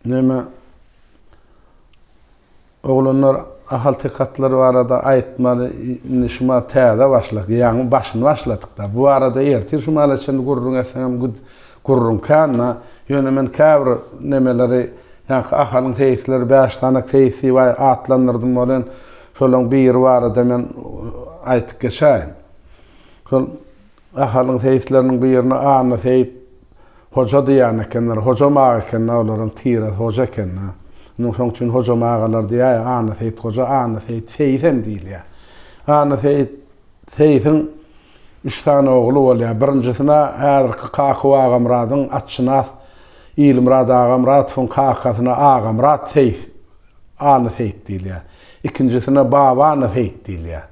Näme oglanlar ahaltekatlary barada aýtmaly, indi şuma täze başladyk, ýaňy başyny başladyk-da. Bu barada ertir şumala çenli gürrüň etseňem Gürrüň kända, ýöne men käbir nemeleri, ýaňky Ahalyň seýisleri bäş tanak seýis diýip atlandyrdym welin, şolaň biri barada men aýtyp geçäýin. Şol Ahalyň seýisleriniň birine Anna seýit hoja diýýän ekenler. Hojam aga eken-ä olaryň tiresi hoja eken-ä. Munuň şoň üçin hojam agalar diýýär ýa Anna seýit hoja, Anna seýit seýis hem diýilýär. Anna seýit. Seýsiň üç sany ogly bolýar. Birinjisine häzirki Kakuw Agamyradyň atşynas Ilmyrat Agamyradowyň kakasyna Agamyrat seýs, Ana seýs diýilýär. Ikinjisine Babana seýs diýilýär.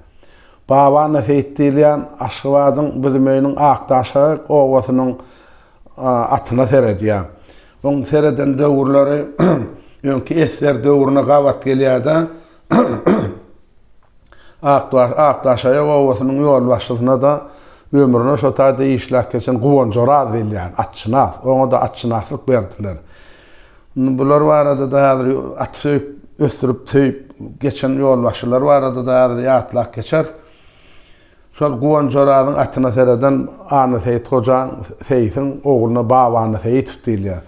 Babana seýs diýilýän Aşgabadyň Büzümeýiniň Akdaşagyk obasynyň atyna seredýär. Onuň sereden döwürleri öňki esger döwrüne gabat gelýär-de, Akdaşaýak obasynyň ýolbaşçysyna-da ömrüne şo taýda işläp geçen Guwanjoraz diýilýän atçynas, oňa-da atçynaslyk berdiler. Indi bular barada-da häzir at söýüp, ösdürip, söýüp geçen ýolbaşçylar barada-da häzir ýatlap geçeris. Şol Guwanjorazyň atyna sereden Annaseýit gojaň, seýsiň, ogluna Baba Annaseýitow diýilýär.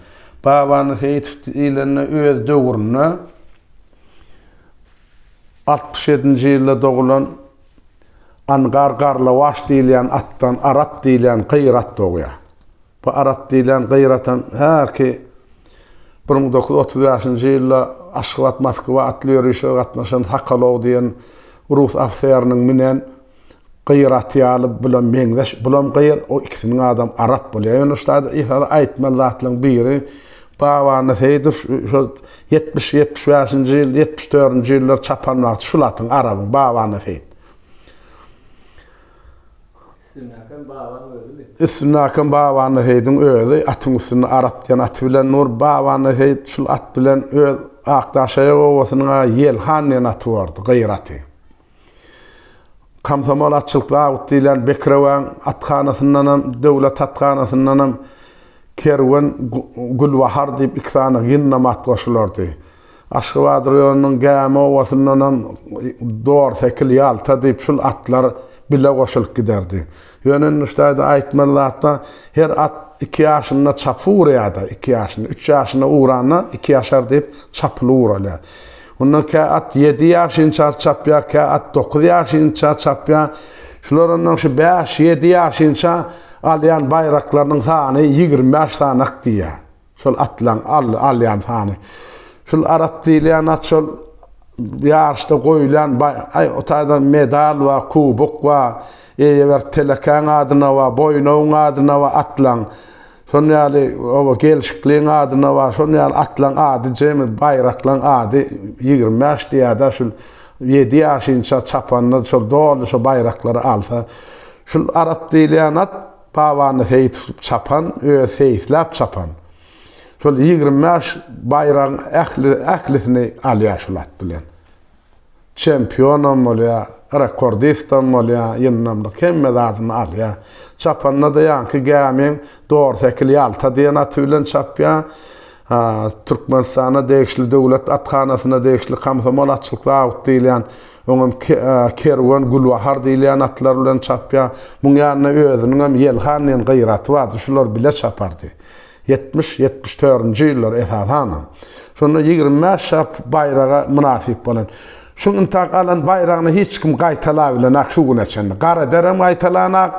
Baba Annaseýitow diýlende öz döwründe, Altmyş ýedinji ýylda dogulan Angar Garlawaş diýilýän atdan Arat diýilýän gyýr at dogýar. Bu Arat diýilýän gyýr atam häki bir müň dokuz ýüz otuz bäşinji ýylda Aşgabat-Moskwa atly ýörişe gatnaşan Sokolow diýen rus ofiseriniň münen Gyr aty ýaly bulam meňzeş bulam gyr o ikisiniň adam arap bolýa ýöne şutada esasy aýtmaly zatlaryň biri Babany Seýdow şo ýetmiş ýetmiş bäşinji ýyl ýetmiş dördünji ýyllar çapan wagty şul atyň arabyň Babany Seýit Üstündäkem Babany özümi? Üstündäkem Babany Seýidiň özi atyň üstünde arap diýen aty bilen nur Babany Seýit şul at bilen öz Akdaşaýak obasynyň a Ýelhan diýen aty bordy gyr aty. Komsomol atçylyk zabit diýlen Bekirewaň athanasyndanam, döwlet athanasyndanam Kerwen, Gülbahar diýip iki sany gynlama at goşulardy. Aşgabat raýonynyň Gämi obasyndanam Dorsekil, Ýalta diýip şul atlar bile goşulyp giderdi. Ýöne Nuştaýda aýtmaly zat bar, Her at iki ýaşynda çapy urýar-da, iki ýaşynda, üç ýaşynda uranda iki ýaşar diýip çapyly uralýar. Onda kä at ýedi ýaşynça çapýar, kä at dokuz ýaşynça çapýar. Şular ondan şu bäş, ýedi ýaşynça alýan baýraklarynyň sany ýigrimi bäş sanak diýýär. Şol atlaň alýan sany. Şul arak diýilýän at şol ýaryşda goýulýan aý o taýda medal we kubok we eýeberk telekäň adyna we boýnawyň adyna we atlaň şon ýaly oba gelşikliň adyna we şon ýaly atlaň ady jemi baýraklaň ady ýigrimi bäş diýada şul ýedi ýaşynça çapanlar şol doly şo baýraklary alsa şul arak diýilýän at Pabany seýis çapan, özi seýisläp çapan. Şol ýigrimi bäş baýragyň ähli, ählisini alýar şol at bilen. Çempionam bolýar, rekordistam bolýar, ýyndamlyk hemme zadyny alýar. Çapanda-da ýaňky gämiň Dorsekil Ýalta diýen aty bilen çapýar. Türkmenistana degişli döwlet athanasyna degişli Komsomol açylyk zawody diýilýän Oňam Kerwen, Gülbahar diýilýän atlar bilen çapýar. Muň ýanynda özüniňem Ýelhan diýen gyýraty bardy. Şular bile çapardy. Ýetmiş, ýetmiş törünji ýyllar esasanam. Şonda ýigrimi bäş çap baýraga mynasyp bolan. Şuň intäk alan baýragyny hiç kim gaýtalabilenak şu güne çenli. Garederem gaýtalanak.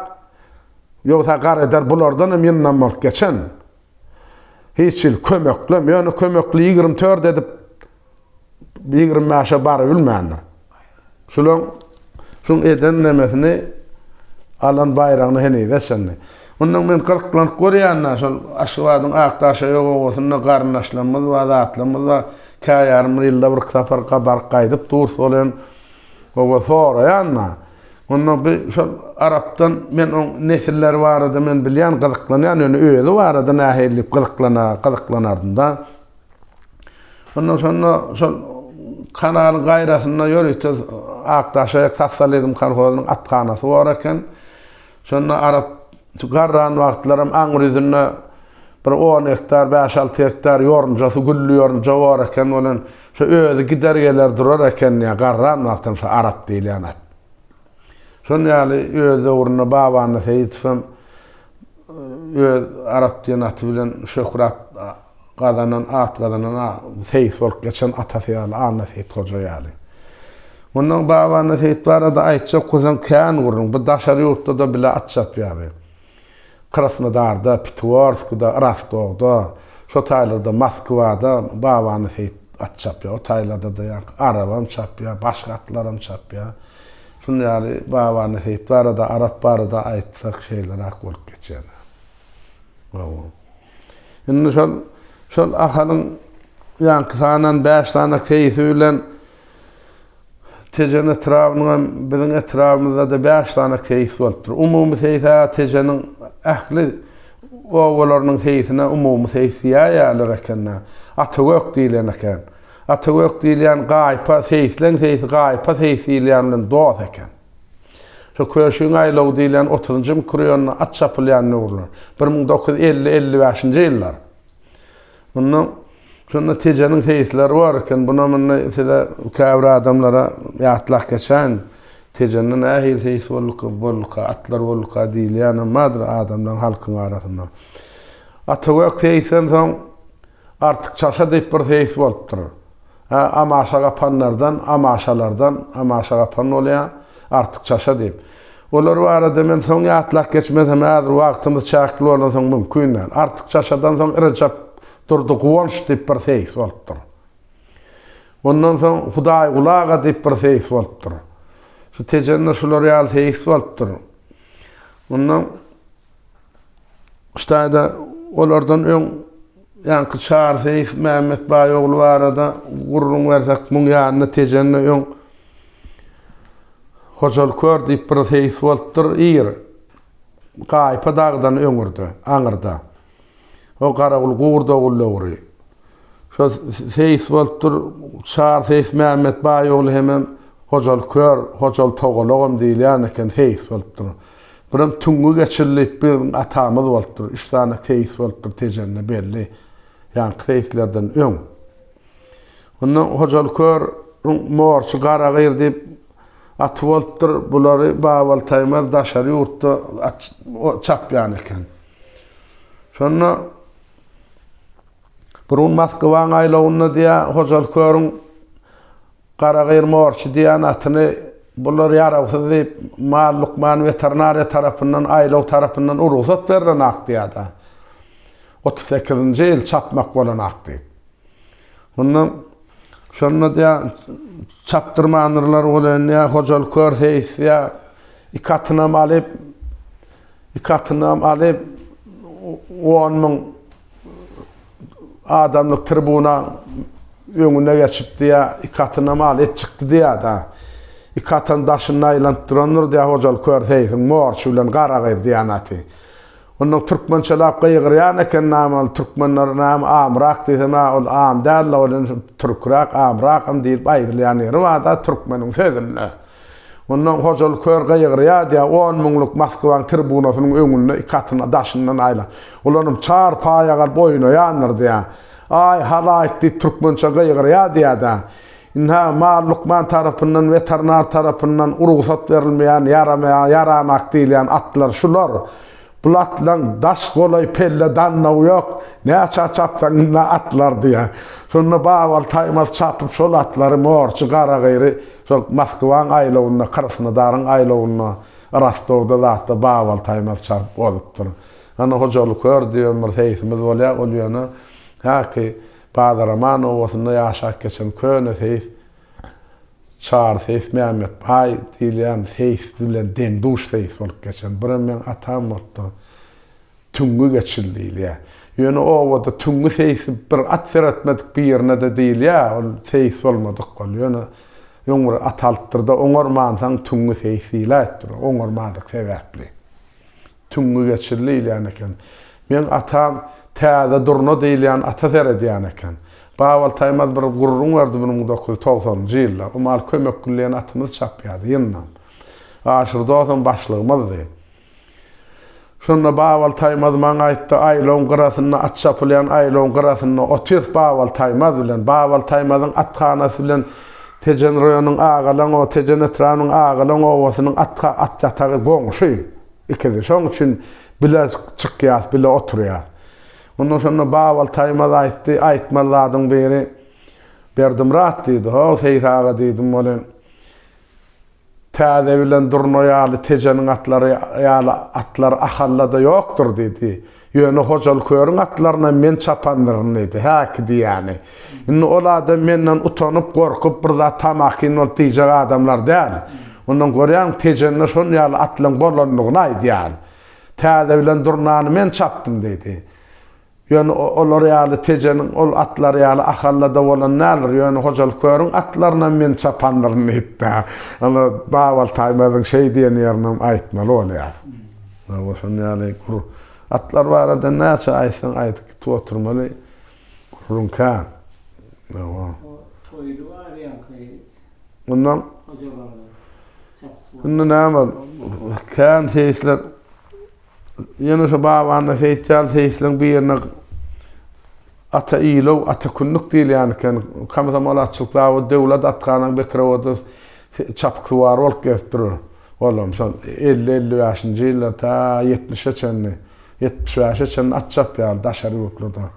Ýogsa Gareder bulardanam ýyndam bolup geçen. Hiç hili kömeklem. Ýöne kömekli ýigrimi tört edip. ýigrimi bäşe barybilmändir. Şulan şuň eden nemesini alan baýragyny henize çenli. Mundan men gyzyklank görýän-ä, şol Aşgabadyň Akdaşaýok obasynda garyndaşlarymyz bar, zatlarymyz bar. Kä ýarym ýylda birki sapar baryp gaýdyp durus ol hem oba soraýan-a. Onda bi şol arapdan men oň nesilleri barada men bilýän, gyzyklanýan, ýöne özi barada nähili diýip gyzyklanardym-da. Ondan soňra şol kanalyň gaýrasynda ýörite Akdaşaýak sosializm kolhozynyň athanasy bar eken. Şonda Arap şu garran wagtlaram aňry ýüzünde bir on gektar, bäş-alty gektar ýorunjasy, gülli ýorunja bar eken. Welin, şo özi gider-geler durar eken, ýa garran wagtam şo Arap diýilýän at. Şol ýaly öz döwründe Babandy Seýitow hem öz Arap diýen aty bilen şöhrat gazanan, at gazanan seýis bolup geçen atasy ýaly, Anna Seýit hoja ýaly. Mundan Babandy Seýit barada aýtjak bolsaň kän gürrüň. Bu daşary ýurtda-da bile at çapýardy. Krasnodarda, Pitiworskda, Rostowda, şo taýlarda Moskwada Babany Seýit at çapýar. O taýlarda-da ýaňky arabam çapýar, başga atlaram çapýar. Şunuň ýaly Babany Seýit barada, Arap barada aýtsak şeýleräk bolup geçer. Hawa. Indi şol, şol Ahalyň ýaňky sanan bäş sany seýisi bilen Tejen etrabynyň hem biziň etrabymyzda-da bäş sany seýis bolupdyr. Umumy seýis-ä Tejeniň ähli obalarynyň seýisine umumy seýis diýäýýärler eken-dä. Atagök diýlen eken. Atagök diýilýän gaýypa, seýisleň seýisi gaýypa seýis diýilýän bilen dos eken. Şu Köşügiň aýlawy diýilýän otuzynjy mikrorýonda at çapylýan döwürler, bir müň dokuz ýüz elli elli bäşinji ýyllar. Munda şonda Tejeniň seýisleri bar eken. Bunam indi size käbir adamlara ýatlap geçäýin. Tejende nähili seýis bolduka, bolduka, atlar bolduka diýilýänem bardyr adamlaryň, halkyň arasynda. Atagök seýisden soň Artyk çalşa diýip bir seýis bolupdyr. Hä, amaşa gapanlardan, amaşalardan, amaşa gapan bolýa, artykçaşa diýip. Olar barada men soň ýatlap geçmesem, häzir wagtymyz çäkli bolansoň mümkin däl. Artykçaşadan soň Rejep Durdy Guwanç diýip bir seýis bolupdyr. Ondan soň Hudaýguly aga diýip bir seýis bolupdyr. Şu Tejende şular ýaly seýis bolupdyr. Ondan. Hytaýda olardan öň ýaňky Çar Seýf Mämmet Baýogly barada gürrüň bersek, muň ýanyna Tejende öň Hojaly Kör diýip bir seýis bolupdyr, ir, Gaýypa dagdan öňürde, aňyrda. O Garagul gurd ogul dogry. Şo seýis bolupdyr, Çar seýis Mämmet baý ogly hemem Hojaly kör, Hojaly togalagam diýilýän eken seýis bolupdyr. Birem Tüňňi geçil diýip biziň atamyz bolupdyr. Üç sany seýis bolupdyr Tejende belli. Ýaňky seýislerden öň. Onda Hojaly kör ryň morçy Garagyr diýip aty bolupdyr. Bulary Babaly Taýmaz daşary ýurtda at çapýan eken. Şonda bir gün Moskwaň aýlawynda diýä Hojaly körüň Garagyr morçy diýen atyny bular ýarawsyz diýip mal lukman weterinariýa tarapyndan aýlaw tarapyndan u rugsat berlen ak diýada. Otuz sekizinji ýyl çapmak bolan ak diýip. Onda şonda diýä çapdyrmandyrlar welin diýä Hojaly kör seýis diýä iki atynam alyp Iki atynam alyp, on müň adamlyk tribuna öňüne geçip diýýär, iki atynam alyp çykdy diýýär-de. Iki atam daşynda aýlanyp durandyr diýýär, Hojalyk kör seýsiň, morçy bilen garagyz diýýän aty. Ondan türkmençeläp gygyrýan eken, namaly türkmenler, näme, amrak diýsem, ä, ol am däl-de, ol indi türküräk, amrakam diýlip aýdylýan ýeri bar-da türkmeniň sözünde. Ondan Hojaly kör gygyrýardy-ýa, on müňlük Moskwaň tribunasynyň öňünde iki atyny daşyndan aýlap, ulanyp, çar paýa galyp oýnaýandyrdy-ýa. Aý, halaýyk! diýip türkmençe gygyrýardy-ýa-da. Ynha, mal lukman tarapyndan, weterinar tarapyndan rugsat berilmeýän, ýaramaýan, ýaranak diýilýän atlar şular. Bul atlaň daş golaý pelle dannawy ýok, näçä çapsaň ynha atlardy-ýa. Şonda Babaly Taýmaz çapyp şol atlary morjy, garagyry, Soň Moskwaň aýlawynda, Krasnodaryň aýlawynda, Rostowda zatda Babal Taýmaz çaryp bozup-dyr. Hany Hojaly kör diýen bir seýsimiz bolýar, ol ýöne häki Badaraman obasynda ýaşap geçen köne seýs, Çary seýs Mämmetbaý diýilýän seýs bilen deň-duş seýs bolup geçen. Birem meň atam bolupdyr. Tüňňi geçil diýilýär. Ýöne obada tüňňi seýis bir at seretmedik birine-de diýilýär, ol seýis bolmadyk ol. Ýöne öň bir at alypdyr-da, oňarmansoň tüňňi seýis diýläýipdir, oňarmadyk sebäpli. Tüňňi geçil diýilýän eken. Meň atam Täze durna diýilýän ata seredýän eken. Babaly Taýmaz bir gürrüň berdi, bir müň dokuz ýüz togsanynjy ýylda. O mal Kömekgül diýen atymyz çapýardy, ýyndam. Aşyr dosam başlygymyzdy. Şonda Babal Taýmaz maňa aýtdy, Aýlawyň gyrasynda at çapylýan aýlawyň gyrasynda otyrs Babal Taýmaz bilen. Babal Taýmazyň athanasy bilen Tejen roýonyň Agalaň o Tejen etrabynyň Agalaň obasynyň at at ýatagy goňşy ikisi. Şoň üçin bile çykýas, bile oturýas. Onda şonda Babal Taýmaz aýtdy, Aýtmaly zadyň biri Berdimyrat diýdi. Ho, Seýis aga diýdim, welin, Täze bilen durna ýaly, tejeniň atlary ýaly atlar Ahallada ýokdur, diýdi. Ýöne Hojaly körüň atlarynam men çapandyryn, diýdi. Häki diýýäni. Indi ol adam menden utanyp, gorkup, bir zat tamakin bolup diýjek adamlar däl. Ondan görýäň, tejende şol ýaly atlaryň bolandygyny aýdýan. Täze bilen durnany men çapdym, diýdi. Ýöne olar ýaly Tejeniň ol atlary ýaly Ahallada bolan däldir. Ýöne Hojalykörüň atlarynam men çapandyryn diýipdi. Ol Babal Taýmazyň şeý diýen ýerinem aýtmaly bolýar. Hawa, şonuň ýaly gür atlar barada näçe aýtsaň aýt, gitip oturmaly gürrüň kän. Hawa. O toýly barýanka ýerik. Ondan. Hojalygyň çapyşy. Indi näme bol, kän seýisler Ýunus babany Seýitjal seýisligiň bir ýerinde Ata Iýlow, Ata Kündük diýilýän eken. Komsomol atçylyk zawody, döwlet atganaň Bekirowada çapyksuwar bolup gezip durar. Olam şol elli-elli bäşinji ýyllar ta ýetmişe çenli, ýetmiş bäşe çenli at çapýardy daşary ýurtlarda.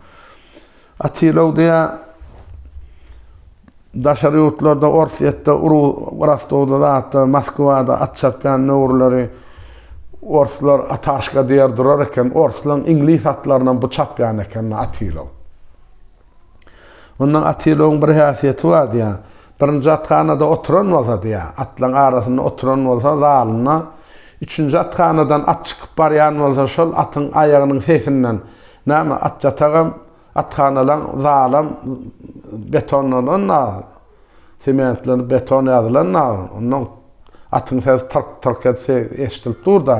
Atilowdiýa daşary ýurtlarda, Orsýetde, Rostowda zatda, Moskwada at çapýan möwürleri orslar ataşka diýer durar eken. Orslaryň iňlis atlarynam bu çapýan eken, ynha Atilow. Ondan Atilowyň bir häsiýeti bar diýýär. Birinji athanada oturan bolsa diýýär, atlaryň arasynda oturan bolsa zalynda, üçünji athanadan at çykyp barýan bolsa şol atyň aýagynyň sesinden Näme, atýatagam, athanalam, zalam betonlanan nag, sementlenip beton ýazylan nag, onnoň atyň sesi tyrk-tyrk etse eşidilip dur-da.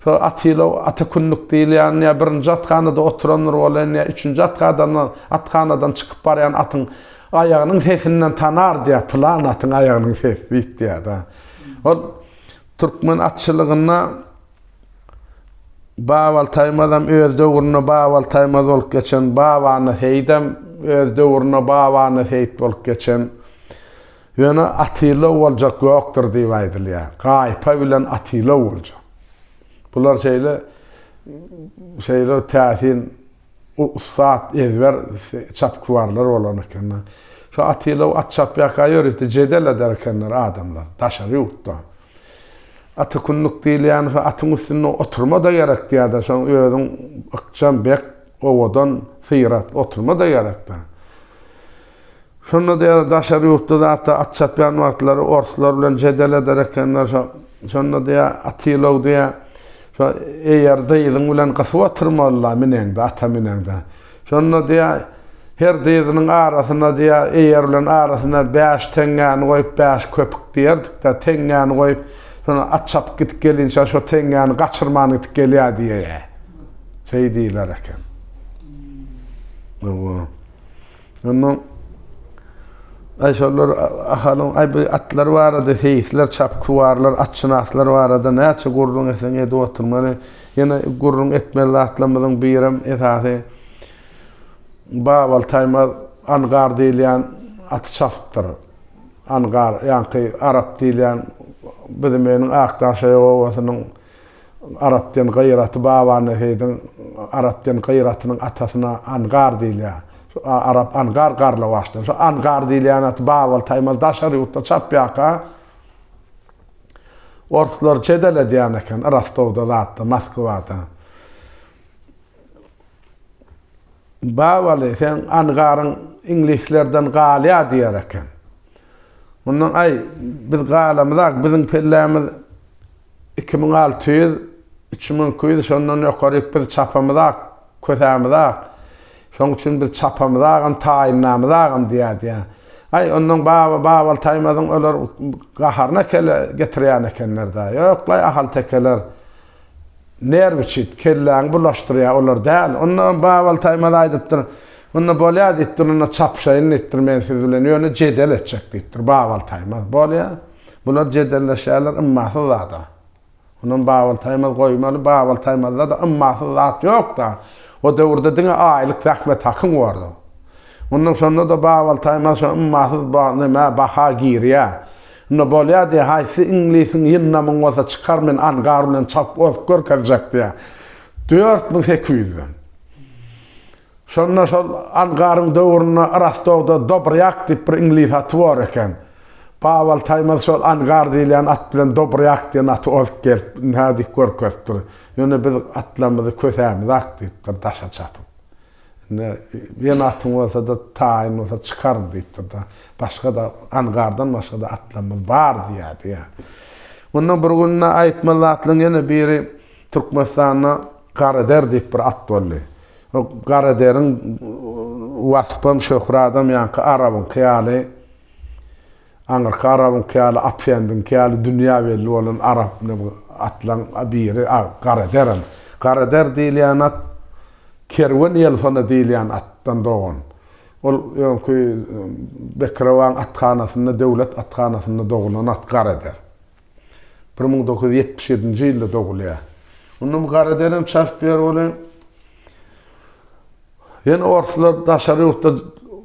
Şo atyla ata kündük diýilýän ýa birinji athanada oturandyr welin, ýa üçünji athadan, athanadan çykyp barýan atyň aýagynyň sesinden tanar diýýär, pylan atyň aýagynyň sesi diýip diýýär-de. Ol türkmen atçylygynda Baba Taýmazam öz döwründe Baba Taýmaz bolup geçen, Babany Seýidem öz döwründe Babany Seýit bolup geçen. Ýöne Atylow boljak ýokdur diýip aýdylýar. Gaýypa bilen Atylow boljak. Bular şeýle şeýle täsin O ussat, ezber çapyksuwarlar bolan ekenler. Şu Atylow at çapýarka ýörite jedel eder ekenler adamlar, daşary ýurtda. Atykunnuk diýilýän şu atyň üstünde oturma-da gerek diýýärdi, şoň özüň ykjam, bek, owadan, syrat oturma-da gerekdi. Şonda-da ýa-da daşary ýurtda zat-a at çapýan wagtlary orslar bilen jedel eder ekenler, şo, şonda diýýä, Atylow diýýä, şo eýer dyzyň bilen gysyp oturmaly-la mineňde, ata mineňde. Şonda diýýä, her dyzynyň arasyna diýýä, eýer bilen arasyna bäş teňňäni goýup, bäş köpük diýerdik-de, teňňäni goýup, şonda at çapyp gidip gelinçä şo teňňäni gaçyrman gidip gelýär diýýä. Şeý diýler eken. Hawa. Ondan Aý şolar Ahalyň aý bu atlar barada seýisler, çapyksuwarlar, atşynaslar barada näçe gürrüň etseň edip oturmaly. Ýene gürrüň etmeli zatlarymyzyň birem esasy Babal Taýmaz Angar diýilýän aty çapypdyr. Angar, ýaňky Arap diýilýän Büzümeniň Akdaşaýagowasynyň Arapden gyraty Babany Seýdiň Arapden gyratynyň atasyna Angar diýilýär. Şu Arap Angar Garlawaçdan. Şu Angar diýilýän at Babyl Taýmaz daşary ýurtda çapýarka orslar jedel edýän eken Rostowda zatda, Moskwada. Babyly sen Angaryň iňlislerden galýar diýer eken. Mundan aý, biz galamyzak, biziň pellämiz iki müň alty ýüz, üç müň iki ýüz, şondan ýokaryk biz çapamyzak, kösämizak. Şoň üçin biz çapamyzagam, taýynlamyzagam diýýär diýýär. Aý, ondan baba, Babal Taýmazyň olar gaharyna kele getirýän ekenler-dä. Ýok-laý, ahaltekeler. Nerwi çit, kelläňi bulaşdyrýar olar däl. Onda Babal Taýmaz aýdypdyr, Onda bolýar diýipdir, onda çapyşaýyn diýipdir men siz bilen, ýöne jedel etjek diýipdir Babal Taýmaz. Bolýar. Bular jedelleşýärler ymmasyz zada. Onam Babal Taýmaz goýmaly, Babal Taýmazda-da ymmasyz zat ýok-da. O döwürde diňe aýlyk zähmet hakyň bordy. Ondan şonda-da Babal Taýmaz şo ymmasyz neme, baha girýär. Şunda bolýa diýýä haýsy iňlisiň ýyndamyň bolsa çykar men angar bilen çalp ozup görkezjek diýýä dört müň sekiz ýüzden. Şonda şol angaryň döwründe Rostowda Dobrýak diýip bir iňlis aty bor eken. Babal Taýmaz şol angar diýilýän at bilen Dobrýak diýen aty ozup gelip nädip görkezipdir. Ýöne biz atlarymyzy kösämizak diýipdir daşa çapyp. Indi ýene atyň bolsa-da, taýyň bolsa çykar diýipdir-de. Başga-da, angardan başga-da atlarymyz bar diýýärdi, ýa. Onda bir günde aýtmaz atlyň ýene biri Türkmenistanda Gareder diýip bir at boldy. O Garederiň waspam, şöhradam ýaňky arabyňky ýaly. Aňyrky arabyňky ýaly Atfendiňki ýaly dünýä belli bolan arap atlaň biri Garaderam. Garader diýilýän at Kerwen Ýelsona diýilýän atdan dogan. Ol öňki Bekrewaň athanasynda, döwlet athanasynda dogulan at Garader. Bir müň dokuz ýüz ýetmiş ýedinji ýylda dogulýar. Onda bu gara derem çap ber bole. Ýene orslar daşary ýurtda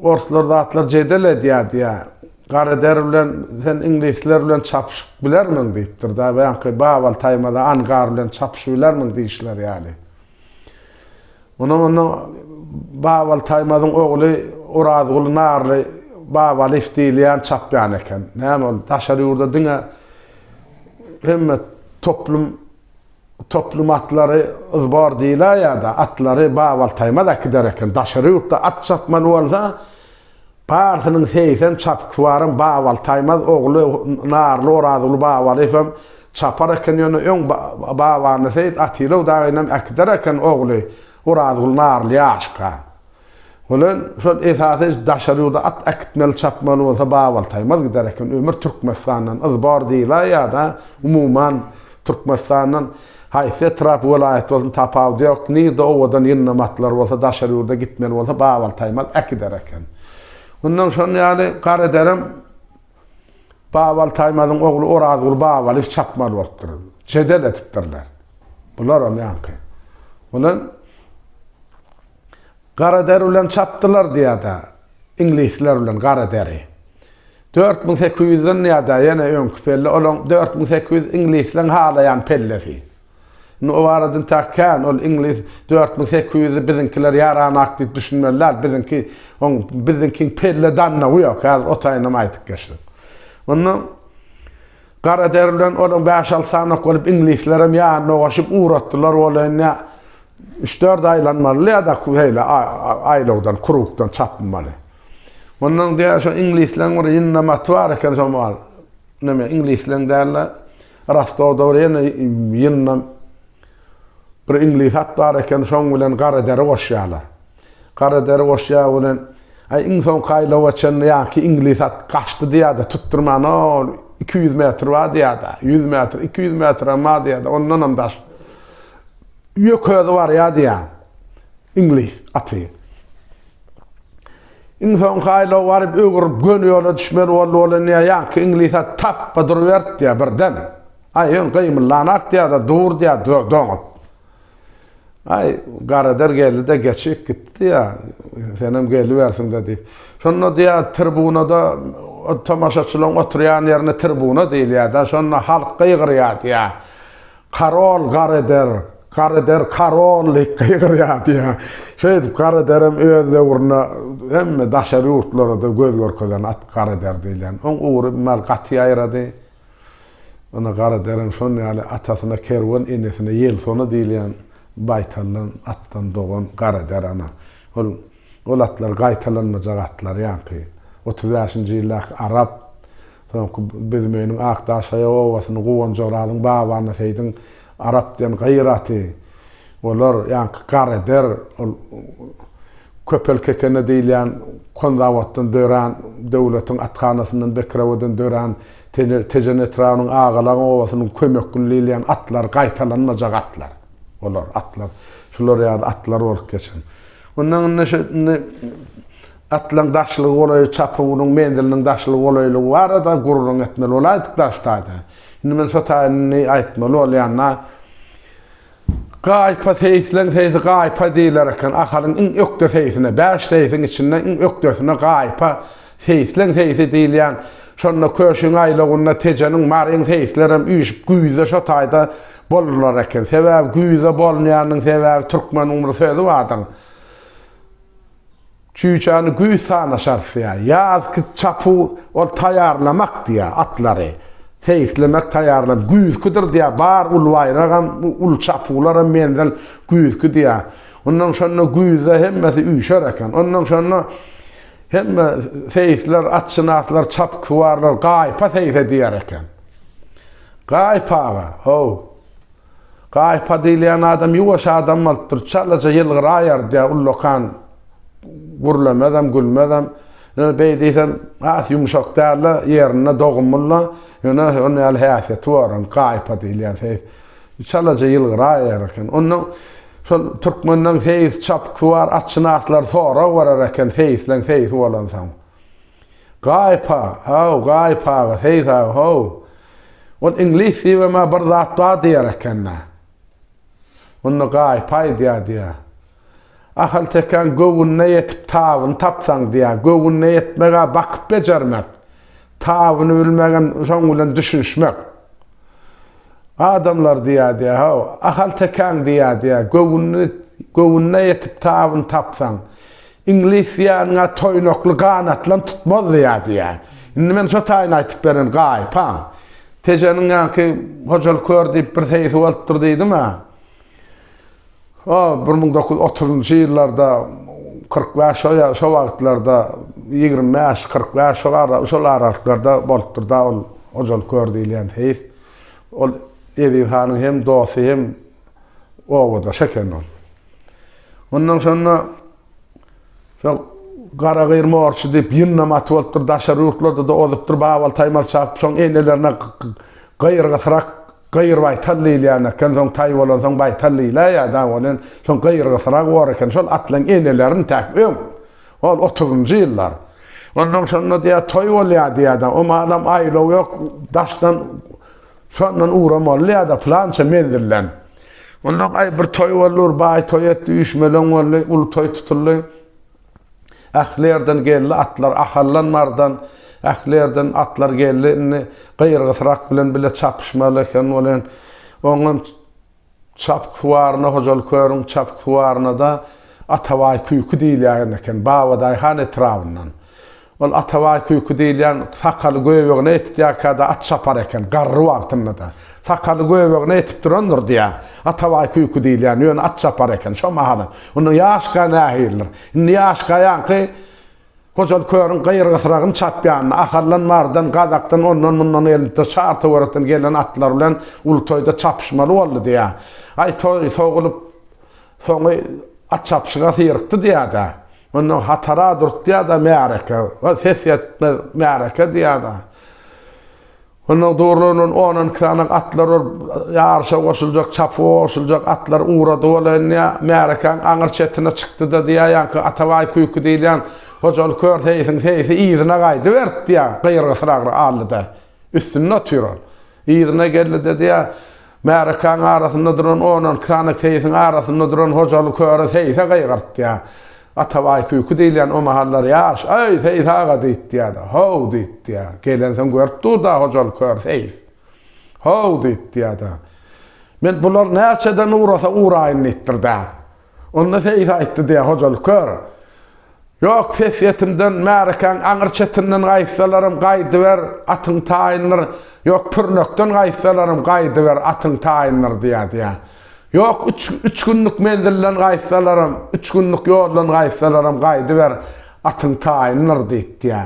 orslar zatlar jedel edýär diýä. Gara der bilen sen iňlisler bilen çapyşyp bilermiň diýipdir da. Baňky Babal taýmada Angar bilen çapyşyp bilermiň diýişleri ýaly. Munuň öňünde Babaly Taýmazyň ogly Orazguly Narly Babalyýew diýilýän çapýan eken. Näme ol daşary ýurda diňe hemme toplum toplum atlary zbor diýilýär ýa-da atlary Babaly Taýmaz äkider eken. Daşary ýurtda at çapmaly bolsa, Parsynyň segsen çapyksuwaram Babal Taýmaz ogly Narly Orazguly Babalyýew hem çapar eken ýöne öň Babany Seýit Atylow dagynam äkider eken ogly Orazguly Narly ýaşka bilen şol esasy daşary ýurda at äkitmeli çapmaly bolsa Babal Taýmaz gider eken ömür Türkmenistandan yzbor diýla ýada umuman Türkmenistandan haýsy etrap welaýat bolsun tapawudy ýok nirde owadan ýyndam atlar bolsa daşary ýurda gitmeli bolsa babaltaýmal äkider eken. Mundan şon ýaly gar ederem babaltaýmazyň ogly orazguly babaly iş çapmaly bolupdyr. Jedel edipdirler. Bularam ýaňky. Bolan gar eder bilen çapdylar diýada iňlisler bilen gar ederi. Dört müň sekiz ýüzden ýa-da ýene öňki pelle, olaň dört müň sekiz ýüz iňlisleň halaýan pellesi. Indi o barada entäk kän, ol iňlis dört müň sekiz ýüzi biziňkiler ýaranak diýip düşünmeli däl, biziňki, oň biziňkiň pelle dannagy ýok, häzir o taýynam aýdyp geçdim. Onda gara deri bilen olaň bäş-alty sanyok bolup iňlislerem ýanyna goşup ugratdylar bolayyn, ýa üç-dört aýlanmaly ýa-da şeýle aý-aýlawdan, krugdan çapynmaly. Mundan gär şo iňlisleň bir ýyna maty bar eken şo mal. Näme iňlisleň däl-de Rostowda bir ýene ýyna bir iňlis at bar eken şoň bilen gara deri goşýarlar. Gara deri goşýar bilen Aý iň soňky aýlawa çenli ýaňky iňlis at gaçdy diýýär-de tutdurman ol iki ýüz metr bar diýýär-de ýüz metr iki ýüz metr hem bar diýýär-de ondanam daş ýöke özi barýar diýýär iňlis aty. Iň soňky aýlaw baryp öwrülip göni ýola düşmeli boldy bolýa niýe ýaňky iňlisa tapba durubertdiýä birden aý öň gymyllanaak diýäda dur diýä doňat aý garader geldide geçip gitdi diýä senem gelibersiňde diýip şonda diýä tirbunada tomaşaçylaň oturýan ýerine tirbuna diýilýä da şonda halk gygyrýa diýä Karol Gareder, Gareder karol diýip gygyrýardy. Şeýdip Garederem öz döwründe hemme daşary ýurtlara-da göz görkezen at Gareder diýlen. Oň ugry mal gaty ýaýrady. Ony Garederem şon ýaly atasyna Kerwen, enesine Ýelsona diýilýän baýtallan atdan dogan Gareder ana. Ol ol atlar gaýtalanmajak atlar ýaňky otuz bäşinji ýyldaky arap Soňky büzmeginiň Akdaşgaýa obasyny Guwanjyrazyň babany Seýdiň Arap diýen gyr aty. Olar ýaňky Gareder, ol Köpel Kekene diýilýän Konzawoddan dörän, döwletiň athanasyndan Bekrewadan dörän Tejen etrabynyň Agalaň obasynyň Kömekli diýilýän atlary gaýtalanmajak atlar. Olar atlar şular ýaly atlar bolup geçen. Ondan indi şu indi Atlaryň daşlygy golaýy çapuwynyň menziliniň daşlygy golaýlygy barada gürrüň etmeli bolaýdyk daş taýdan. Indi men şo taýyny aýtmaly bolýan-da. Gaýpa seýisleň seýisi gaýpa diýiler eken. Ahalyň iň ökde seýisine, bäş seýisiň içinde iň ökdesine gaýpa, seýisleň seýisi diýilýän. Şonda Köşüň aýlawynda Tejeniň, Maryň seýislerem üýşüp güýzde şo taýda bolurlar eken. Sebäbi güýzde bolunýanynyň sebäbi türkmeniň bir sözi bardyr. Çüýçäni güýz sana şarsýar. Ýazky çapuw, ol taýýarlamak diýýär, atlary. Seýislemek, taýýarlamak. Güýzküdir diýýär, bar uly baýragam, uly çapuwlaram menzil güýzki diýýär. Onnoň şonda güýzde hemmesi üýşer eken. Onnoň şonda hemme seýisler, atşynaslar, çapyksuwarlar gaýpa seýse diýer eken. Gaýpaga, how! Gaýypa diýilýän adam ýuwaş adam bolupdyr, çalaja ýylgyraýardýa, ullakan, gürlemezem, gülmezem. Ýöne beý diýsem, has ýumşak dälde, ýerinde dogumly-la, ýöne şonuň ýaly häsiýeti bar onuň, gaýypa diýilýän seýis. Çalaja ýylgyraýar eken. Ondan şol türkmenden seýis çapykly bar, atşynaslar sorag berer eken seýisleň seýisi bolansoň. Gaýypa, haw, Gaýyp aga, seýis aga, haw, Ol iňlis dibime bir zat bar diýer eken-dä. Onda gaýyp aýdýar diýer. Ahaltekäň göwnüne ýetip tabyny tapsaň diýer. Göwnüne ýetmek-ä bakyp bejermek. Tabyny bilmek hem şoň bilen düşünişmek. Adamlar diýer diýer, haw, ahaltekäň diýer diýer, göwnüne ýetip tabyny tapsaň, Iňlis ýaňa toýnakly ganatlan tutmazdy ýa diýä. Indi men şo taýyny aýtyp beren gaýypam. Tejeniň ýaňky Hojaly kör diýip bir seýisi bolupdyr diýdim-ä. O bir müň dokuz ýüz otuzynjy ýyllarda, kyrk bäş şo ýa şo wagtlarda, ýigrimi bäş, kyrk bäş şo ara şol aralyklarda bolupdyr-da ol Hojaly kör diýilýän seýis. Ol Eziz hanyň hem dosty hem Obadaş eken ol. Ondan soňra şol Garagyr morçy diýip ýyndam aty bolupdyr, daşary ýurtlarda-da ozupdyr, Babal Taýmaz çapyp, soň enelerine Gyrgysyrak, Gyrbaýtal diýilýän eken, soň taý bolansoň Baýtal diýilýär ýa dagy bolan, soň Gyrgysyragy bor eken, şol at bilen enelerini itäp öň, ol otuzynjy ýyllar. Ondan soňra diýýär, toý bolýar diýýär-de, o malam aýlaw ýok, daşdan Şondan ugra molly ýa-da pylança menzilden. Ondan aý bir toý boldy, bir baý toý etdi, üýşmeleň boldy, uly toý tutuldy. Ähli ýerden geldi atlar, Ahaldan, Mardan, ähli ýerden atlar geldi. Indi gyrgysrak bilen bile çapyşmaly eken welin, oňam Çapyk suwaryna hojalyk körüň Çapyk suwaryna-da Atabaý küýki diýilýän eken, Babadaýhan etrabyndan. Ol Atabaý küýki diýilýän sakaly göbegine ýetip ýakä-da at çapar eken, garry wagtynda-da. Sakaly göbegine ýetip durandyr diýýär. Atabaý küýki diýilýän, ýöne at çapar eken şo mahalam. Onda ýaşka nähilidir? Indi ýaşka ýaňky. Hojaly körüň gyrgysragyny çapýanyny, Ahaldan, Marydan, Gazakdan, ondan-mundan elmtde, çar-töwerekden gelen atlar bilen uly toýda çapyşmaly boldy diýýär. Aý, toý sogulyp, soňy at çapyşyga syrykdy diýýär-de. Onda hatara durtýar-da märeke. Ses ýetmez märeke diýýär-de. Ondan durlunan on on iki sany atlar bar. Ýaryşa goşuljak, çapyga goşuljak atlar ugrady wala indi. Märekäň aňyr çetine çykdy-da diýýär, ýaňky Atabaý küýki diýilýän hojaly kör seýisiň seýisi yzyna gaýdyberdi diýýär, gyrgysyragyr aldy-da. Üstünde otyr ol. Yzyna geldi-de diýýär, märekäň arasynda duran on on iki sany seýisiň arasynda duran hojaly köre seýise gygyrt diýýär. Atabaý küýki diýilýän o mahallar ýaş, Aý, Seýis aga! diýtýärdi. How! diýtýär. Gelensoň görüp dur-da Hojaly kör seýis. How! diýtýär-de. Men bular näçeden ugrasa ugraýyn diýipdir-dä. Onda seýis aýtdy diýýär, Hojaly kör! Ýok, ses ýetimden, märekäň aňyr çetinden gaýtsalaram, gaýdyber, atyň taýyndyr, ýok, pürnekden gaýtsalaram, gaýdyber, atyň taýyndyr diýýär, diýýär. Ýok, üç, üç günlük menzilden gaýtsalaram, üç günlük ýoldan gaýtsalaram gaýdyber, atyň taýyndyr diýipdiýä.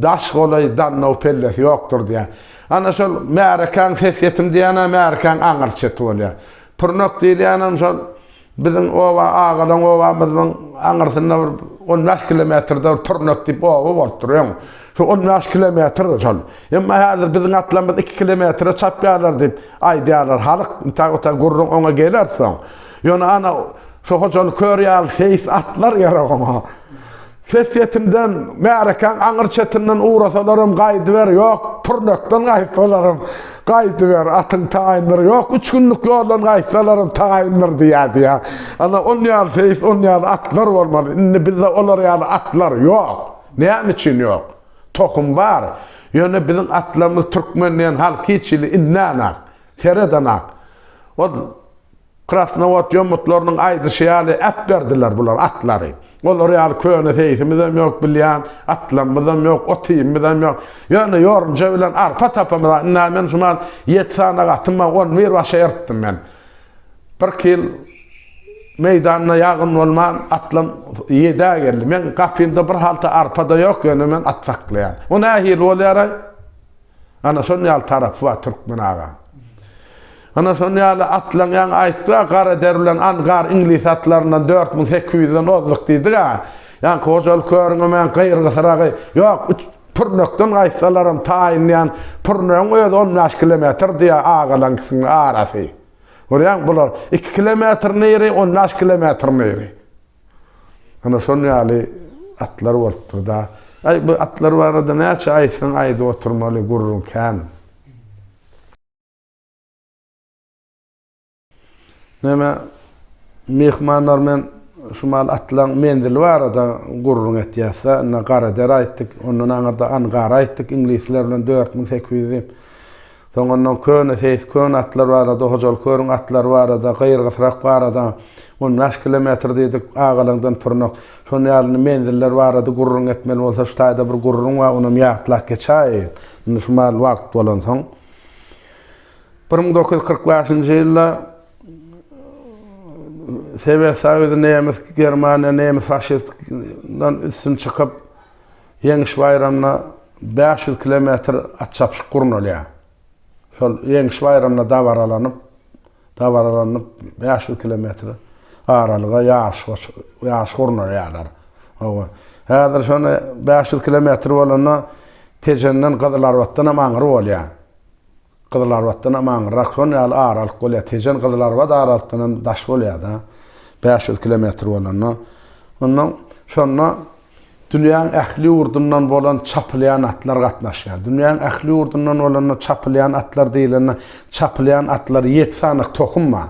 Daş golaý, dannaw pellesi ýokdur diýä. Ana şol märekäň ses-ýetim diýen-ä märekäň aňyr çeti bolýar. Pürnek diýilýänem şol biziň oba, agalaň obamyzyň aňyrsynda bir on bäş kilometrde bir Pürnek diýip oba bolupdyr öň. Şu on bäş kilometrdir şol. Emma häzir biziň atlarymyz iki kilometre çapýarlar diýip aýdýarlar halk. Intäk otaý gürrüň oňa geler soň. Ýöne ana, şu Hojaly kör ýaly seýis atlar gerek oňa. Ses setimden, märekäň aňyr çetinden ugrasalaram gaýdyber, ýok, pürnekden gaýtsalaram gaýdyber, atyň taýyndyr, ýok, üç günlük ýoldan gaýtsalaram taýyndyr diýerdi ýa. Ana, on ýaly seýis, on ýaly atlar bolmaly. Indi bizde olar ýaly atlar ýok. Näme üçin ýok? Tohum bar, ýöne biziň atlarymyz türkmen diýen halk hiç hili innan-ak, seredan-ak. Ol krasnowod ýomutlarynyň aýdyşy ýaly äpberdiler bular atlary. Olar ýaly köne seýsimizem ýok bilýän, atlarymyzam ýok, ot-iýmimizem ýok. Ýöne ýorunja bilen arpa tapamyz-a. Ynha, men şu mahaly ýedi sanagatym bar, on bir başa eritdim men. Birki ýyl meýdanda ýagyn bolman, atlam ýedä geldi. Meň gapymda bir halta arpa-da ýok, ýöne men at saklaýan. Bu nähili bolýar-aý? Ana, şonuň ýaly tarapy bar, türkmen aga. Ana, şonuň ýaly atlaňýaň aýtdy-a, gara der bilen angar iňlis atlaryndan dört müň sekiz ýüzden ozduk diýdi-a. Ýaňky hojalyk körüňe men gyrgysyragy, ýok, üç Pürnekden gaýtsalaram taýynlaýan pürnegiň özi on bäş kilometr diýýär agalaň ikisiniň arasy. Görýäňmi bular iki kilometr niri on bäş kilometr niri. Ana şon ýaly atlar bolupdyr da. Aý bu atlar barada näçe aýtsaň aýdyp oturmaly gürrüň kän. Näme, myhmanlar men şu maal atylan menzil barada gürrüň etýäs-dä, indi Garadere aýtdyk, ondan aňyrda Angara aýtdyk, iňlisler bilen dört müň sekiz ýüz diýip. Soň ondan köne seýis, köne atlar barada, Hojaly körüň atlary barada, Gyrgysrak barada, on bäş kilometr diýdik, Agalaňdan Pürnek. Şonuň ýaly menziller barada gürrüň etmeli bolsa, şu taýda bir gürrüň bar, onam ýatlap geçäýin, indi şu maal wagt bolansoň. Bir müň dokuz ýüz kyrk bäşinji ýylda Sowet Soýuzy nemes Germaniýa nemes faşistdan üstün çykyp, Ýeňiş baýramyna bäş ýüz kilometr at çapyşyk gurnalýar. Şol Ýeňiş baýramyna dabaralanyp, dabaralanyp bäş ýüz kilometr aralyga ýaryş ýaryş gurnalýarlar. Hawa. Häzir şony bäş ýüz kilometr bolanda Tejenden, Gyzylarbatdan hem aňry bolýar. Gyzylarbatdan aman Rakson ýaly aralyk bolýar. Tejen Gyzylarbat aralykdan hem daş bolýar-da. Bäş ýüz kilometr bolanda. Onda şonda dünýäň ähli ýurdundan bolan çapylýan atlar gatnaşýar. Dünýäň ähli ýurdundan bolanda çapylýan atlar diýlende, çapylýan atlar ýedi sany tohum bar.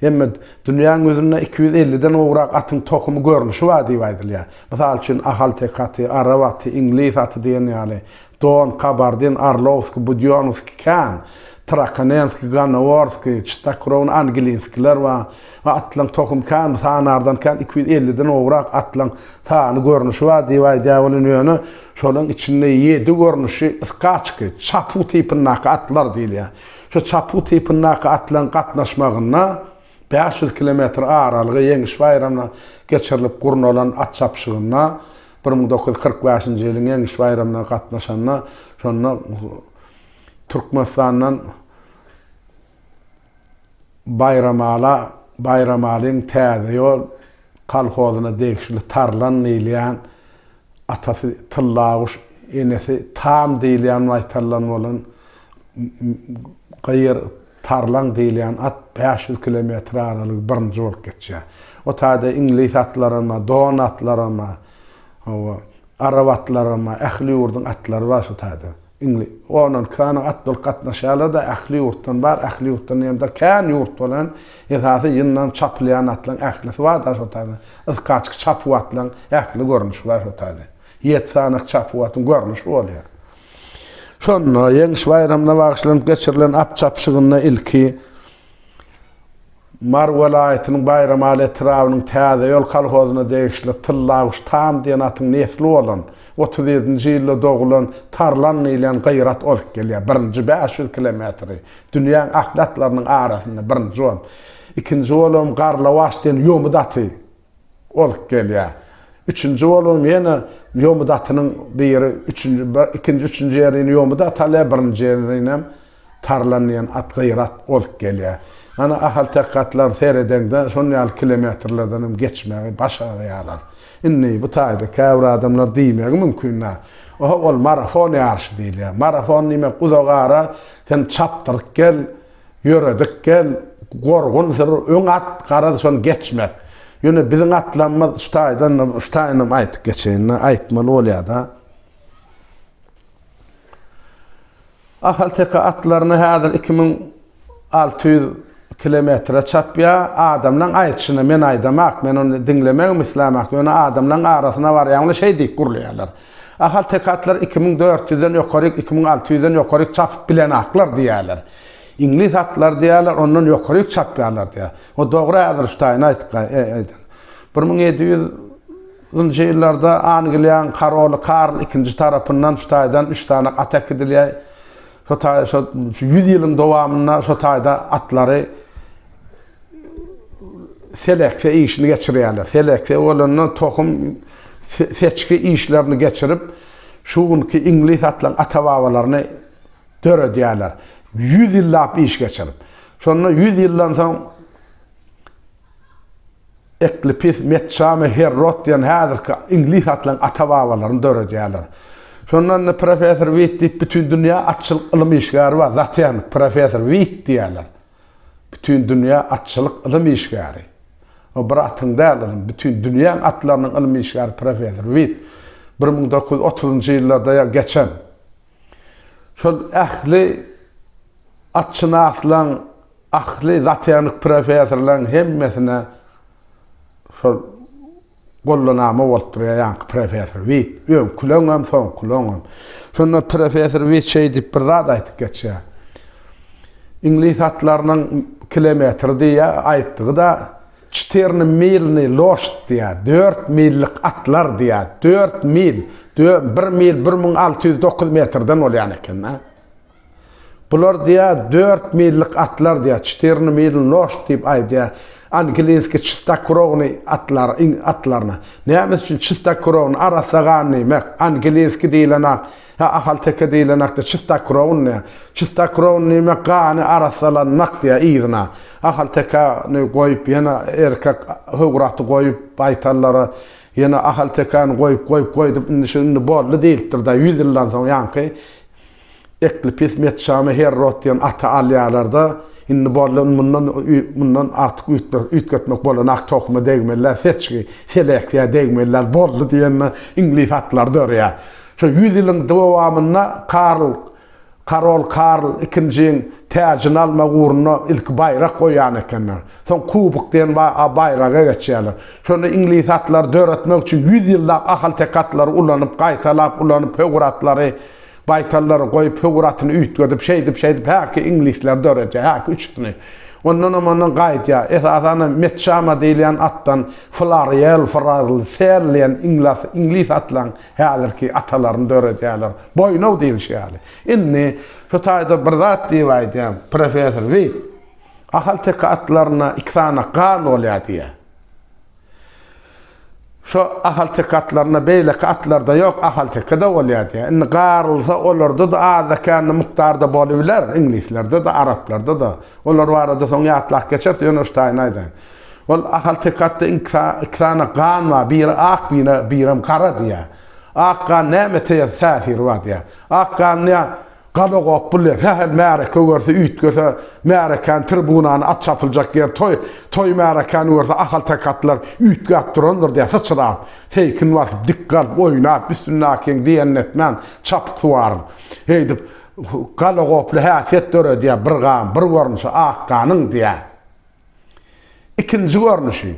Hemme dünýäň ýüzünde iki ýüz elliden gowrak atyň tohumy görnüşi bar diýip aýdylýar. Mysal üçin, ahalteke aty, arap aty, iňlis aty diýen ýaly. Don, kabardin, arlowskiý, budýonowskiý, kan, trakonenskiý, ganoworskiý, çystakrowny angilinskiler bar we atlaryň tohumy kän, sanardan kän iki ýüz elliden gowrak atlaryň sany görnüşi bar diýip aýdýar welin, ýöne şolaryň içinde ýedi görnüşi skaçki, çapuw tipindaky atlar diýilýär. Şu çapuw tipindaky atlaryň gatnaşmagynda bäş ýüz kilometr aralygy Ýeňiş baýramyna geçirilip gurnalan at çapyşygynda bir müň dokuz ýüz kyrk bäşinji ýylyň Ýeňiş baýramyna gatnaşanda şonda Türkmenistandan Baýramala Baýramalyň Täze ýol kolhozyna degişli Tarlan diýilýän atasy Tyllaguş enesi Tam diýilýän maýtaldan bolan Gyýr, tarlaň diýilýän at bäş ýüz kilometr aralygy birinji bolup geçýär. O taýda iňlis atlaram-a, don atlaram-a, hawa, arap atlaram-a, ähli ýurduň atlary bar şu taýda. Iňli, on, on iki sany at bolup gatnaşýarlar-da, ähli ýurtdan bar, ähli ýurtdan diýemde kän ýurt bolan, esasy ýyndam çapylýan atlaryň ählisi bar-da şo taýda. Yzkaçki çapuw atlaryň ähli görnüşi bar şo taýda. Ýedi sany çapuw atyň görnüşi bolýar. Şonda Ýeňiş baýramyna bagyşlanyp geçirilen at çapyşygynda ilki Mary welaýatynyň Baýramaly etrabynyň Täze ýol kolhozyna degişli Tyllaguş Tan diýen atyň nesli bolan, otuz ýedinji ýylda dogulan Tarlan diýlen gyrat ozup gelýär. Birinji bäş ýüz kilometri dünýäň ahli atlarynyň arasynda birinji bolup, ikinji bolup Garlawaç diýen ýomut aty bolup gelýär. Üçünji bolan ýene ýomy datynyň biri üçünji ikinji üçünji ýerini ýomy daty alýar birinji ýerinem tarlan diýen at gyrat bolup gelýär. Ýöne ahalteke atlaryny seredeňde şon ýaly kilometrlerdenem geçmegi başarýarlar. Indi bu taýda käbir adamlar diýmegi mümkin däl. Oho ol marafon ýaryşy diýilýär. Marafon diýmek uzak ara sen çapdyryp gel. Ýöredik gel, gorgun syr, öň at, garaz şony geçmek. Ýöne biziň atlamyz şu taýdan, şu taýynam aýtyp geçeýin-le, aýtmaly bolýa-da. Ahalteke atlaryny häzir iki müň alty ýüz kilometre çapýar. Adamlaň aýdyşyna men aýdamak, men ony diňlemegem islämak, ýöne adamlaň arasyna barýaňda şeý diýip gürleýärler. Ahaltekatlar iki müň dört ýüzden ýokaryk, iki müň alty ýüzden ýokaryk çapyp bilen atlar diýýärler. Iňlis atlary diýýärler, ondan ýokaryk çapýarlar diýýär. O dogry Äzriftaýyň aýdany. Bir müň ýedi ýüz nji ýyllarda Angliýaň karoly Karl ikinji tarapyndan şu taýdan üç sany at äkidilýär. Şo taý, şo ýüz ýylyň dowamynda şo taýda atlary, selekse işini geçirýärler. Selekse bolanda tohum seçgi işlerini geçirip, şu günki iňlis atlaryň ata-babalaryny döredýärler. Ýüz ýyllap iş geçirip. Şonda ýüz ýyldan soň Eklipis, Metçame, Herrot diýen häzirki iňlis atlaryň ata-babalaryny döredýärler. Şonda indi professor Witt diýip bütin dünýä atçylyk ylym işgäri bar, zotehnik professor Witt diýýärler. Bütindünýä atçylyk ylym işgäri. O bir atyň däl, ylym, bütin dünýäň atlarynyň ylym işgäri professor Wit bir müň dokuz ýüz otuzynjy ýyllarda ýa geçen şol ähli atşynaslaň, ahli zatehnik professorlaň hemmesine şol Gollanama bolup durýar ýaňky professor Wit. Öňküleňem, soňkuleňem. Şonda professor Wit şeý diýip bir zat aýtyp geçýär. Iňlis atlarynyň kilometri diýýär, aýtdygy-da, Çtirny milny loşt diýýär, dört millik atlar diýýär. Dört mil, bir mil bir müň alty ýüz dokuz metrden bolýan eken-dä. Bular diýä dört millik atlar diýä çtirny mil loşt diýip aýdýa angilinski çystakurowny atlar iň atlaryna näme üçin çystakurowny arassa gan diýmek angilinski diýilena ha ahalteke diýilenakda çystakurowny diýä çystakurowny diýmek gany arassalanmak diýä yzyna ahalteke ni goýup ýene erkek howraty goýup baýtallara ýene ahaltekeni goýup goýup goýdup indi şu indi boldy diýilipdir da ýüz ýyldan soň ýaňky Ekli pis Metjany Herrod diýen ata alýarlar-da, Indi boldy, mundan mundan artyk üýtmek üýtgetmek bolanak tohuma degmeli-ä, seçgi, seleksiýa degmeli-ä, boldy diýende iňlis atlary dörýär. Şo ýüz ýylyň dowamynda Karl Karol Karl ikinjiň täjini almak ugrunda ilki baýrak goýan ekenler. Soň kubok diýen baýraga geçýärler. Şony iňlis atlary döretmek üçin ýüz ýyllap ahalteke atlary ulanyp, gaýtalap ulanyp, höwür atlary Baýtallary goýup, höwür atyny üýtgedip, şeýdip-şeýdip, häki iňlisleri döredýär, häki üçüsini. Ondanam-ondan gaýdýar. Esasanam Metçama diýilýän atdan Flarýel, Frazl, Sel diýen iňlas, iňlis atlaryň häzirki atalaryny döredýärler. Boýnaw diýlişi ýaly. Indi şu taýda bir zat diýip aýdýan, professor Wit, ahalteke atlarynda iki sany gan bolýar diýýär. Şo ahalteke atlarynda beýleki atlarda ýok, ahaltekede bolýar diýýär. Indi garylsa olarda-da azda-kände mukdarda bolubiler, iňlislerde-de, araplarda-da. Olar barada soň ýatlap geçeris, ýöne şu taýyny aýdaýyn. Ol ahalteke atda iki sany gan bar, biri ak, birem gara diýýär. Ak gan nämä täsiri bar diýýär. Ak gan diýýär, Gazagok bu le, sähel märeke görse, üýtgese, märekäni, tribunany, at çapyljak ýer, toý, toý märekäni görse, ahalteke atlar üýtgäp durandyr diýýär, syçrap, seýkin basyp, dik galyp, oýnap, Bismilläkiň diýenini etmän, çapyk suwaryň. Heýdip, galagoply häsiýet döredýär, bir gan, bir görnüşi, ak ganyň, diýýär. Ikinji görnüşi.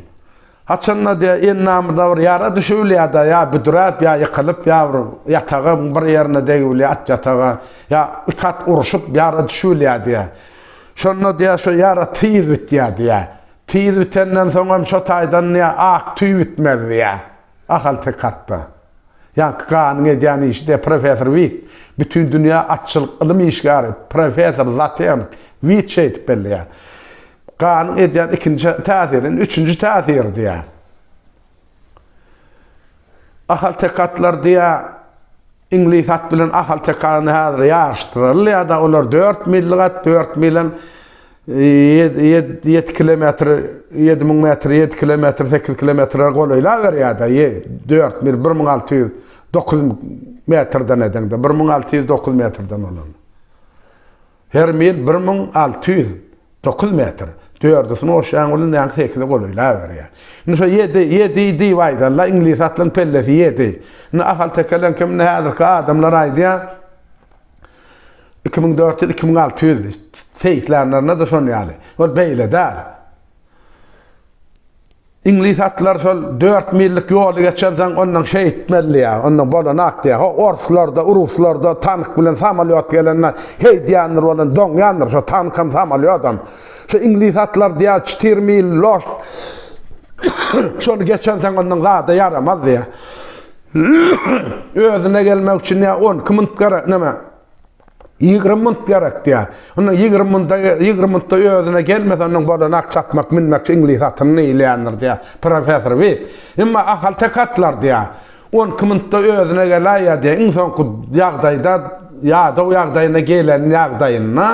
Haçanda diýe, endamyzda bir ýara düşübilýär-de, ýa büdräp, ýa ýykylyp, ýa bir ýataga bir ýerine degibilýär, at ýataga, ýa iki at urşup ýara düşübilýär diýe. Şonda diýe, şo ýara tiz bitýär diýe. Tiz bitenden soň hem şo taýdan diýe, ak tüý bitmez diýe, ahalteke atda. Ýaňky ganyň edýän işi de professor Wit, bütin dünýä atçylyk ylym işgäri, professor Zaten Wit şeýdip belleýär. Ganyň edýän ikinji täsiri, indi üçünji täsir diýýär. Ahaltekatlar diýýär, iňlis at bilen ahalteka indi häzir ýaryşdyrylýar-da, olar dört millik at, dört mil hem Ýedi kilometr, ýedi müň metr, ýedi kilometr, sekiz kilometre golaýlaberýär-de, dört mil, bir müň alty ýüz dokuz metrden edeňde, bir müň alty ýüz dokuz metrden bolan. Her mil bir müň alty ýüz dokuz metr. Dördüsini goşýaň welin näme sekize golaýlaberýär. Indi şo ýedi, ýedi diýip aýdan-la, iňlis atlaryň pellesi ýedi. Indi ahaltekeleňki, indi häzirki adamlar aýdýar, Iki müň dört ýüz, iki müň alty ýüz seýislanlarynda-da şon ýaly. Ol beýle däl. Iňlis atlar şol dört millik ýoly geçensoň, ondan şeý etmeli ýa, ondan bolanat diýä. Ho, orslarda, uruslarda tank bilen samolýot gelende heýdýändir bolan, doňýandyr şo tankam, samolýodam. Şo iňlis atlar diýä, çtir mil loş, şony geçensoň ondan zada ýaramaz diýä. Özüne gelmek üçin ýa on iki munt gerek, näme? Ýigrimi munt gerek diýýär. Onda ýigrimi munta, ýigrimi muntda özüne gelmese, ondan bolanok çapmak, münmek, iňlis atyny eýleýändir diýýär, professor Wit. Emma Ahal tek atlar diýýär. On iki muntda özüne geläýýär diýýär. Iň soňky ýagdaýda, ýadaw ýagdaýyna gelen ýagdaýynda,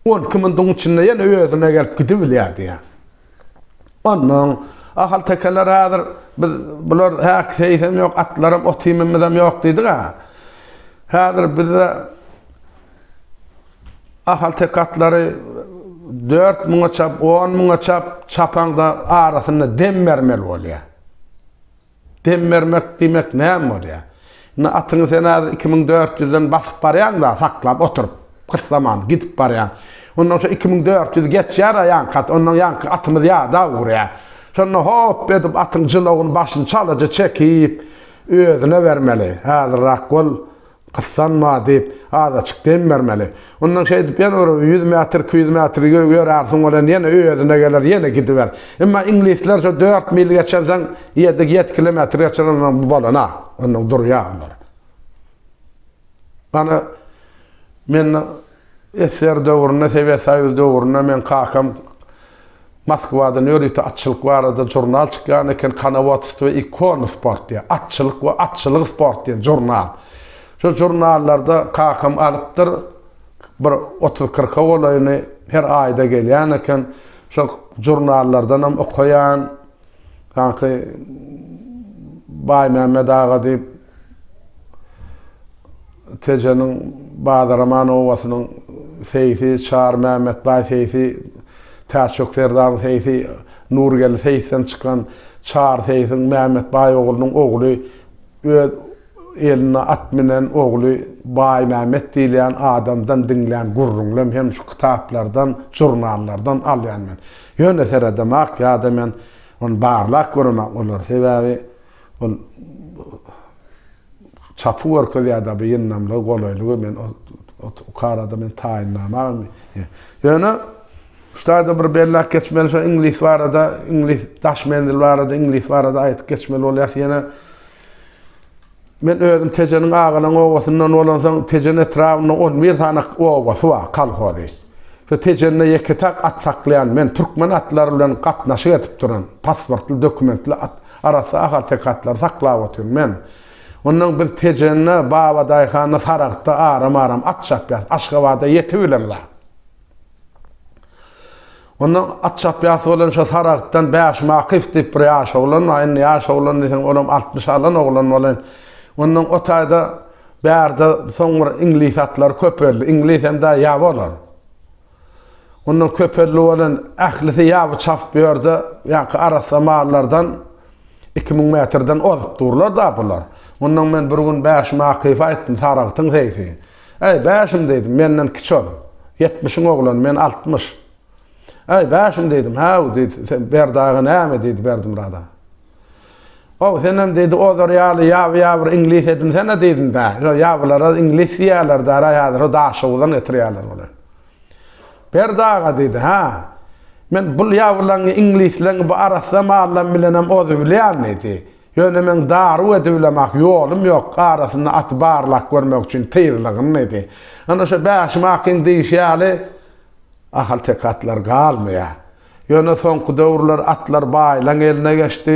on iki muntuň içinde ýene özüne gelip gidibilýär diýýär. Onnoň, Ahaltekeler häzir biz bular häk seýsem ýok, atlaram, ot-iýmimizem ýok diýdik-ä. Häzir bizde ahalteke atlary dört müňe çap, on müňe çap çapaňda arasynda dem bermeli bolýar. Dem bermek diýmek näme bolýar? Indi atyňy sen häzir iki müň dört ýüzden basyp barýaň-da, saklap oturyp, gyssaman gidip barýaň. Ondan soň iki müň dört ýüz geçýär-ä ýaňky at, ondan ýaňky atymyz ýada ugrýar. Şonda hop edip atyň jylawyny başyny çalaja çekip, özüne bermeli. Häzirräk bol. Gyssanma, diýip, azaçyk dem bermeli. Ondan şeýdip ýene bir ýüz metr, iki ýüz metr ýörärsiň, welin ýene özüne geler, ýene gidiber. Emma iňlisler şo dört mil geçensoň, ýedi, ýedi kilometr geçensoň bu bolan-a, onnoň durýar olar. Ana, men SSR döwründe, Sowet Soýuzy döwründe meň kakam Moskwadan ýörite atçylyk barada žurnal çykýan eken, Konovodstvo i konosport diýen, Atçylyk we atçylyk sport diýen žurnal. Şo žurnallarda kakam alypdyr, bir otuz-kyrka golaýyny her aýda gelýän eken. Şo žurnallardanam okaýan. Sanki Baýmämmet aga diýip, Tejeniň Badaraman obasynyň seýsi Çar Mämmetbaý seýsi, Täçjok serdaryň seýsi Nurgeldi seýisden çykan Çar seýsiň Mämmetbaý oglunyň ogly öz elinde at münen ogly Baýmämmet diýilýän adamdan diňlän gürrüňlem hem şu kitaplardan, žurnallardan alýan men. Ýöne seredemak ýa-da men ony barlap göremak bolar. Sebäbi Ol çapy görkezýär dabi ýyndamlygy, golaýlygy men ukarada men taýynlama ýöne ştaýda bir belläp geçmeli şo iňlis barada, iňlis daş menzil barada, iňlis barada aýdyp geçmeli bolýas ýene Men özüm Tejeniň Agalan obasyndan bolansoň Tejen etrabynda 11 sany obasy bar, kolhozy. Şu Tejende ýeke-täk at saklaýan men türkmen atlary bilen gatnaşyk edip duran, pasportly, dokumentli at. Arassa ahalteke atlary saklap otyryn men. Ondan biz Tejende, Babadaýhanda, Saragtda aram-aram at çapýarys. Aşgabada ýetibileris-ä. Ondan at çapýasy bolan şo Saragtdan Bäşim Akyf diýip bir ýaş oglan bar. Indi ýaş oglan diýseň, olam altmyş alan oglan bolan. Ondan o taýda bärde soň bir iňlis atlary köpeldi. Iňlis hem-de ýa bolar. Ondan köpeldi bolan ählisi ýa bu çap bu ýerde, ýaňky arassa mallardan iki müň metrden ozup durlar-da bular. Ondan men bir gün Bäşime Akyfa aýtdym, Saragtyň seýsi. Äý, Bäşim diýdim, menden kiçi ol. Ýetmişiň oglany, men altmyş. Äý, Bäşim diýdim, Hä-u diýdi, Berdi aga näme diýdi Berdimyrada. How, senem diýdi, ozar ýaly ýaby-ýabyr iňlis edinsen-ä diýdim-dä. Şo ýabylara iňlis diýýärler-dä-ra häzir, şo Daşoguzdan getirýärler bular. Berdi aga diýdi, Hä, men bul ýabylaňňy iňlisleňňi bu arassa mallam bilenem oz bilýän diýdi. Ýöne meň daruw edibilemak ýolum ýok, arasynda aty barlap görmek üçin tyzlygyn diýdi. Ynha şo Bäşim akyň diýişi ýaly ahalteke atlar galmaýar. Ýöne soňky döwürler atlar baýlaň eline geçdi.